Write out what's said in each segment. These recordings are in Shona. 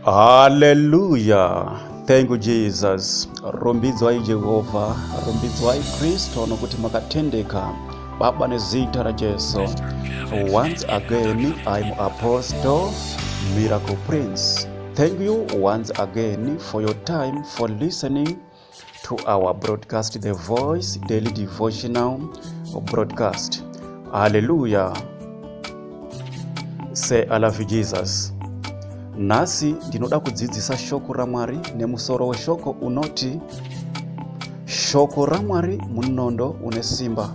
Hallelujah. Thank you Jesus. Rumbidzwai Jehovha, rumbidzwai Kristo nokuti makatendeka. Baba nezita raJesu. Once again I am Apostle Miracle Prince. Thank you once again for your time for listening to our broadcast the voice daily devotional broadcast haleluya say i love you jesus nhasi ndinoda kudzidzisa shoko ramwari nemusoro weshoko unoti shoko ramwari munondo une simba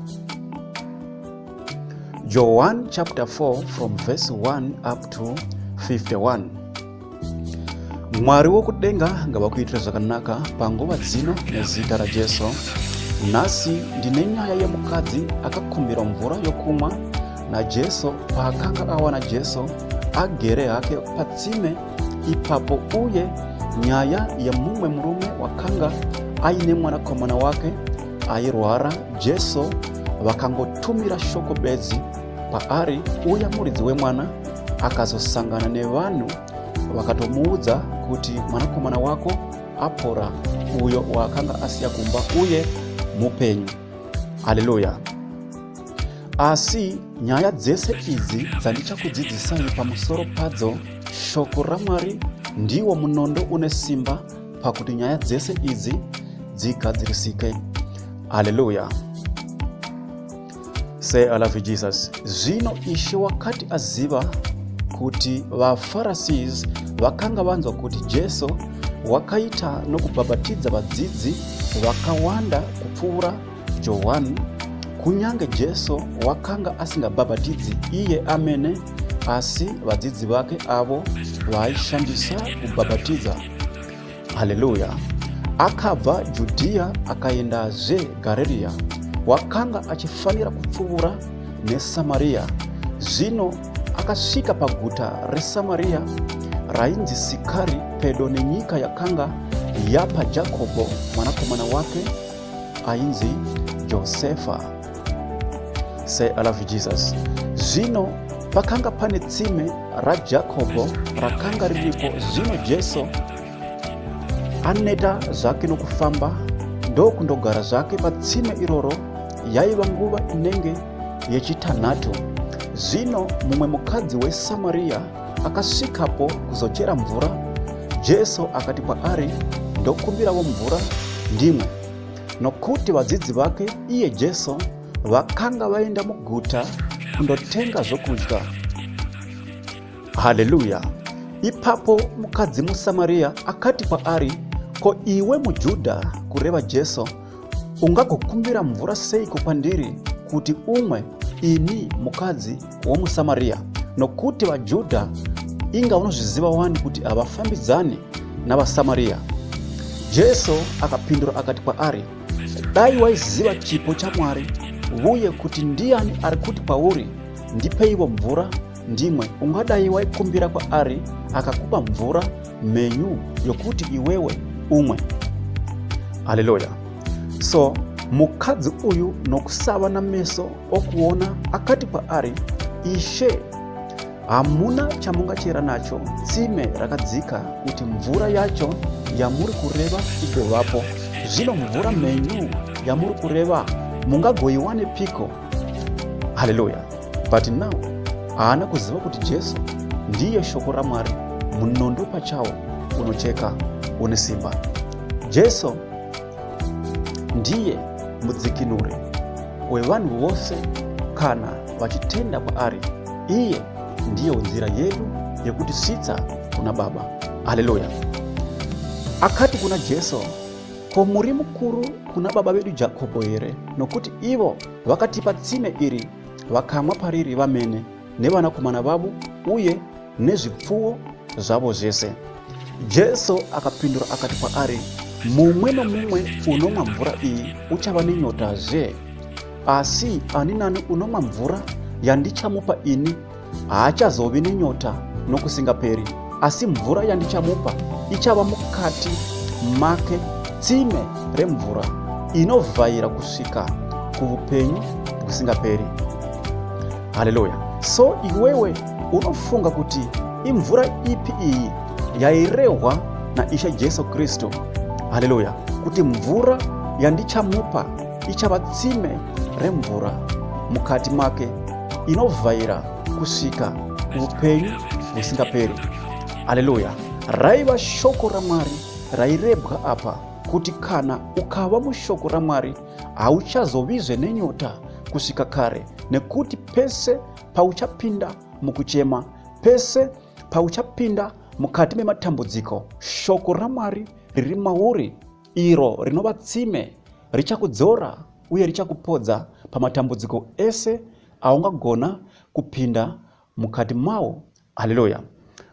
john chapter 4 from verse 1 up to 51 mwari wokudenga ngavakuitira zvakanaka panguva dzino nezita rajesu nhasi ndine nyaya yemukadzi akakumbirwa mvura yokumwa najesu paakanga awana jesu agere hake patsime ipapo uye nyaya yemumwe murume wakanga aine mwanakomana wake airwara jesu vakangotumira shoko bedzi paari uya muridzi wemwana akazosangana nevanhu vakatomuudza kuti mwanakomana wako apora uyo waakanga asiya kumba uye mupenyu haleluya asi nyaya dzese idzi dzandichakudzidzisai pamusoro padzo shoko ramwari ndiwo munondo une simba pakuti nyaya dzese idzi dzigadzirisike haleluya Say I love you Jesus. Zvino Ishe wakati aziva kuti vaFarasies vakanga vanzwa kuti Jesu wakaita nokubhabhatidza vadzidzi vakawanda kupfuura Johani, kunyange Jesu wakanga asingabhabhatidzi iye amene, asi vadzidzi vake avo vaaishandisa kubhabhatidza. Haleluya! Akabva Judhiya akaendazve Garirea, wakanga achifanira kupfuura neSamaria. Zvino akasvika paguta reSamaria rainzi Sikari, pedo nenyika yakanga yapa Jakobho mwanakomana wake ainzi Josefa. Say, I love Jesus. Zvino pakanga pane tsime raJakobo rakanga riripo. Zvino Jesu aneta zvake nokufamba ndokundogara zvake patsime iroro. Yaiva nguva inenge yechitanhatu. Zvino mumwe mukadzi weSamaria akasvikapo kuzochera mvura. Jesu akati kwaari, ndokumbirawo mvura ndimwe. Nokuti vadzidzi vake iye Jesu vakanga vaenda muguta kundotenga zvokudya. Haleluya! Ipapo mukadzi muSamaria akati kwaari, Ko iwe muJudha, kureva Jesu, ungagokumbira mvura seiko kwandiri kuti umwe, ini mukadzi womuSamaria, nokuti vaJudha inga unozviziva wani kuti havafambidzani navaSamaria. Jesu akapindura akati kwaari, Dai waiziva chipo chaMwari, uye kuti ndiani ari kuti kwauri, ndipeivo mvura ndimwe, ungadai waikumbira kwaari akakupa mvura mhenyu yokuti iwewe umwe. Haleluya! So mukadzi uyu nokusava nameso okuona akati kwaari ishe hamuna chamungachera nacho tsime rakadzika kuti mvura yacho yamuri kureva igovapo zvino mvura mhenyu yamuri kureva mungagoiwane piko haleluya but now haana kuziva kuti jesu ndiye shoko ramwari munondo pachawo unocheka une simba jesu Ndiye mudzikinuri wevanhu vose kana vachitenda kwaari. Iye ndiyo nzira yedu yekutisvitsa kuna Baba. Haleluya! Akati kuna Jesu, Ko muri mukuru kuna baba vedu Jakobho here? Nokuti ivo vakatipa tsime iri, vakamwa pariri vamene nevanakomana vavo uye nezvipfuwo zvavo zvese jesu akapindura akati kwaari mumwe nomumwe unomwa mvura iyi uchava nenyota zve asi ani nani unomwa mvura yandichamupa ini haachazovi nenyota nokusingaperi asi mvura yandichamupa ichava mukati make tsime remvura inovhaira kusvika kuupenyu husingaperi haleluya so iwewe Unofunga kuti imvura ipi iyi yairehwa naIshe Jesu Kristu? Haleluya! Kuti mvura yandichamupa ichava tsime remvura mukati make inovhaira kusvika upenyu husingaperi. Haleluya! Raiva shoko raMwari rairebwa apa kuti kana ukava mushoko raMwari hauchazovizve nenyota kusvika kare nekuti pese pauchapinda mukuchema, pese pauchapinda mukati mematambudziko, shoko raMwari riri mauri, iro rinova tsime, richakudzora uye richakupodza pamatambudziko ese aungagona kupinda mukati mawo Haleluya!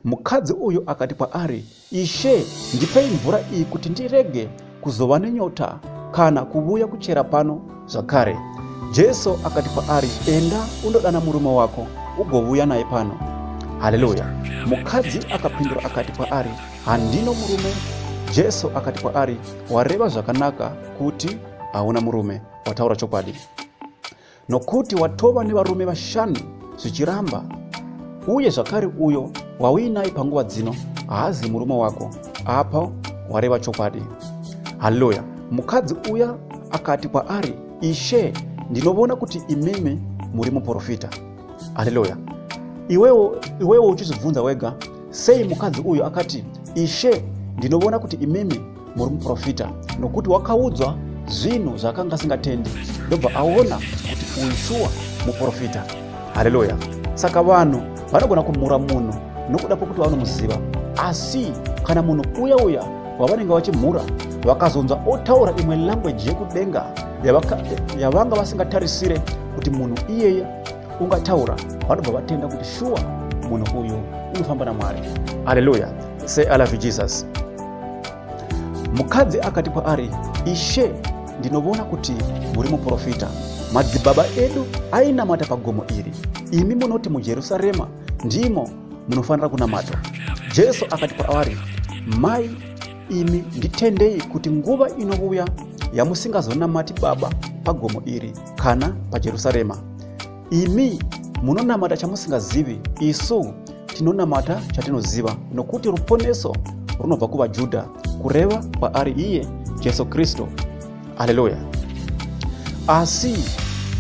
Mukadzi uyu akati kwaari, Ishe, ndipei mvura iyi kuti ndirege kuzova nenyota kana kuvuya kuchera pano zvakare. Jesu akati kwaari, Enda undodana murume wako ugovuya naye pano. Haleluya! Mukadzi akapindura akati kwaari, Handino murume. Jesu akati kwaari, Wareva zvakanaka kuti hauna murume, wataura chokwadi. Nokuti watova nevarume vashanu zvichiramba, uye zvakare uyo wauinaye panguva dzino haazi murume wako, apa wareva chokwadi. Haleluya! Mukadzi uya akati kwaari, Ishe, ndinovona kuti imimi muri muprofita. Haleluya! Iwewo, iwewo uchizvibvunza wega, sei mukadzi uyu akati, Ishe, ndinovona kuti imimi muri muprofita nokuti wakaudzwa zvinhu zvaakanga asingatendi ndobva aona kuti uyu shuwa muprofita hareruya saka vanhu vanogona kumhura munhu nokuda kwokuti vanomuziva asi kana munhu uya uya wavanenge vachimhura vakazonzwa otaura imwe language yekudenga yavanga vasingatarisire kuti munhu iyeye ungataura vanobva vatenda kuti shuwa munhu uyu unofamba namwari haleluya say i love you jesus Mukadzi akati kwaari, Ishe, ndinovona kuti muri muprofita. Madzibaba edu ainamata pagomo iri. Imi munoti muJerusarema ndimo munofanira kunamata. Jesu akati kwaari, Mai, imi nditendei kuti nguva inouya yamusingazonamati Baba pagomo iri kana paJerusarema. Imi munonamata chamusingazivi, isu tinonamata chatinoziva, nokuti ruponeso runobva kuvaJudha, kureva kwaari iye Jesu Kristu. Aleluya! Asi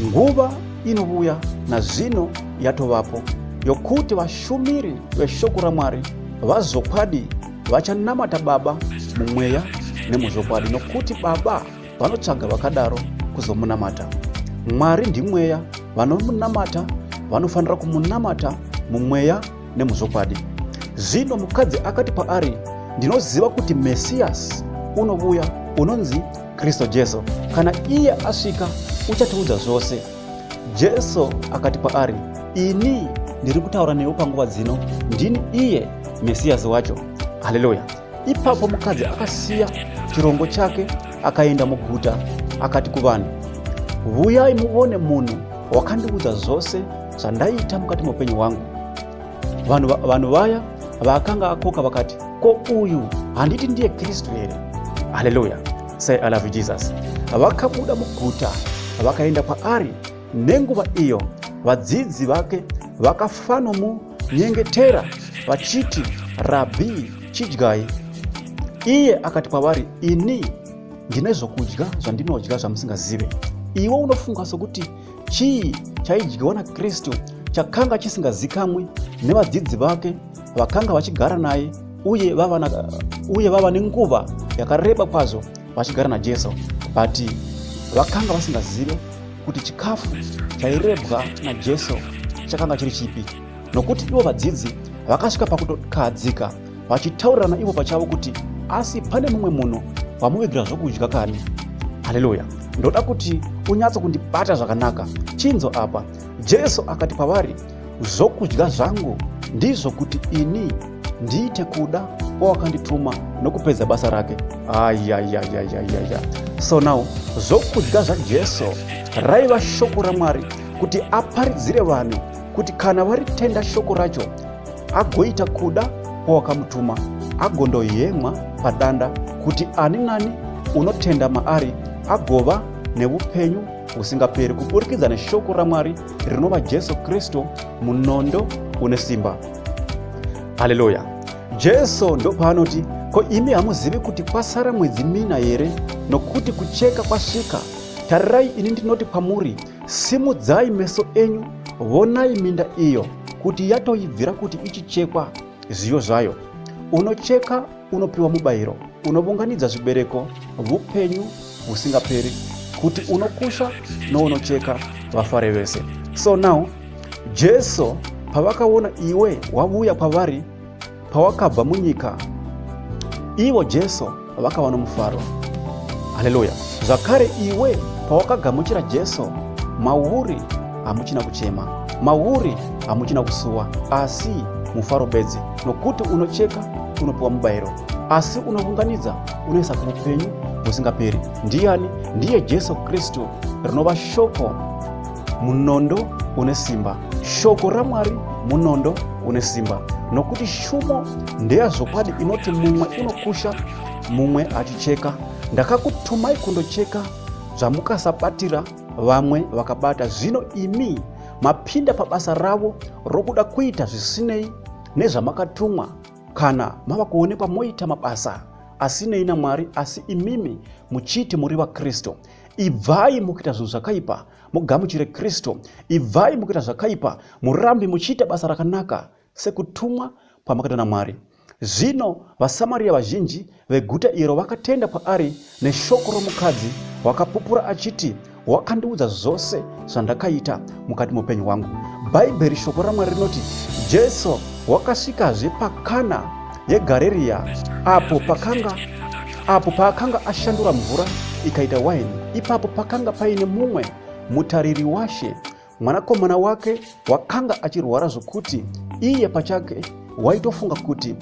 nguva inovuya nazvino yatovapo yokuti vashumiri veshoko raMwari vazvokwadi vachanamata Baba mumweya nemuzvokwadi, nokuti Baba vanotsvaga vakadaro kuzomunamata mwari ndimweya vanomunamata vanofanira kumunamata mumweya nemuzvokwadi zvino mukadzi akati paari ndinoziva kuti mesiyasi unovuya unonzi kristu jesu kana iye asvika uchatiudza zvose jesu akati paari ini ndiri kutaura newe panguva dzino ndini iye mesiyasi wacho haleluya Ipapo mukadzi akasiya chirongo chake akaenda muguta akati kuvanhu, Vuyai muvone munhu wakandiudza zvose zvandaiita mukati meupenyu hwangu. Vanhu vaya vaakanga akoka vakati, Ko uyu handiti ndiye Kristu here? Haleluya! Say I love you Jesus. Vakabuda muguta vakaenda kwaari. Nenguva iyo vadzidzi vake vakafanomudana nyengetera vachiti, Rabhi, chidyai. Iye akati kwavari, Ini ndine zvokudya zvandinodya zvamusingazive. Iwe unofunga sokuti chii chaidyiwa naKristu chakanga chisingazikamwi nevadzidzi vake vakanga vachigara naye uye vava, na, uye vava nenguva yakareba kwazvo vachigara naJesu but vakanga vasingazive kuti chikafu chairebwa naJesu chakanga chiri chipi, nokuti ivo vadzidzi vakasvika pakutokahadzika vachitaurirana ivo pachavo kuti asi pane mumwe munhu wamuvigira zvokudya kani. Haleluya! Ndoda kuti unyatso kundibata zvakanaka. Chinzo apa, Jesu akati kwavari, Zvokudya zvangu ndizvo kuti ini ndiite kuda kwawakandituma nokupedza basa rake. Ayayayayayaya. So now zvokudya zvaJesu raiva shoko raMwari kuti aparidzire vanhu kuti kana varitenda shoko racho agoita kuda kwawakamutuma agondoyemwa padanda kuti ani nani unotenda maari agova neupenyu husingaperi kuburikidza neshoko ramwari rinova Jesu Kristu munondo une simba. Haleluya! Jesu ndopaanoti, Ko imi hamuzivi kuti kwasara mwedzi mina here nokuti kucheka kwasvika? Tarirai, ini ndinoti kwamuri, simudzai meso enyu, vonai minda iyo kuti yatoibvira kuti ichichekwa zviyo zvayo. Unocheka unopiwa mubayiro unovunganidza zvibereko vupenyu husingaperi kuti unokusha nounocheka vafare vese so now jesu pavakaona iwe wavuya kwavari pawakabva munyika ivo jesu vakava nomufaro haleluya zvakare iwe pawakagamuchira jesu mauri hamuchina kuchema mauri hamuchina kusuwa asi mufaro bedzi nokuti unocheka unopiwa mubayiro asi unounganidza unoisa kuupenyu husingaperi ndiyani ndiye jesu kristu rinova shoko munondo une simba shoko ramwari munondo une simba nokuti shumo ndeyazvokwadi inoti mumwe unokusha mumwe achicheka ndakakutumai kundocheka zvamukasabatira vamwe vakabata zvino imi mapinda pabasa ravo rokuda kuita zvisinei nezvamakatumwa kana mava kuonekwa moita mabasa asinei namwari asi imimi muchiti muri vakristu ibvai mukuita zvinhu zvakaipa mugamuchire kristu ibvai mukuita zvakaipa murambi muchiita basa rakanaka sekutumwa kwamakaita namwari zvino vasamariya vazhinji Veguta iro vakatenda kwaari neshoko romukadzi wakapupura achiti, Wakandiudza zvose zvandakaita mukati moupenyu hwangu. Bhaibheri, shoko raMwari rinoti Jesu wakasvikazve paKana yeGareriya apo pakanga apo paakanga ashandura mvura ikaita waini. Ipapo pakanga paine mumwe mutariri washe Mwanakomana wake wakanga achirwara zvokuti iye pachake waitofunga kuti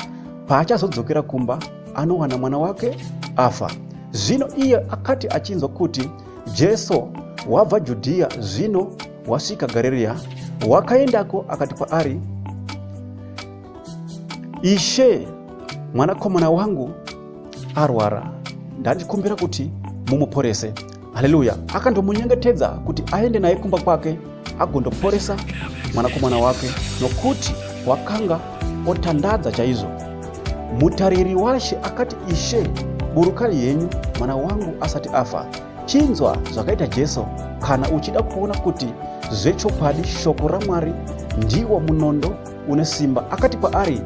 paachazodzokera kumba anowana mwana wake afa. Zvino iye akati achinzwa kuti Jesu wabva Judhiya zvino wasvika Garirea, wakaendako akati kwaari, Ishe, mwanakomana wangu arwara, ndandikumbira kuti mumuporese. haleluya akandomunyengetedza kuti aende naye kumba kwake agondoporesa mwanakomana wake nokuti wakanga otandadza chaizvo mutariri washe akati ishe burukai henyu mwana wangu asati afa chinzwa zvakaita jesu kana uchida kuona kuti zvechokwadi shoko ramwari ndiwo munondo une simba akati kwaari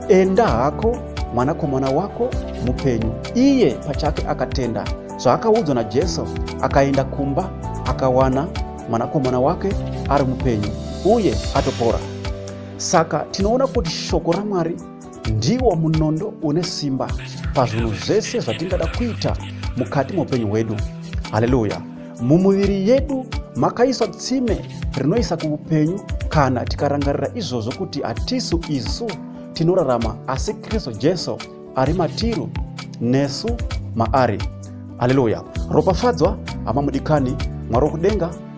enda hako mwanakomana wako mupenyu iye pachake akatenda zvaakaudzwa najesu akaenda kumba akawana mwanakomana wake ari mupenyu uye atopora saka tinoona kuti shoko ramwari ndiwo munondo une simba pazvinhu zvese zvatingada kuita mukati meupenyu hwedu haleluya mumuviri yedu makaiswa tsime rinoisa kuupenyu kana tikarangarira izvozvo kuti hatisu isu tinorarama asi kristu jesu ari matiru nesu maari haleluya ropafadzwa hamamudikani mwari wokudenga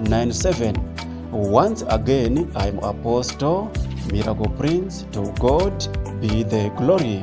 97 once again im apostle miracle prince to god be the glory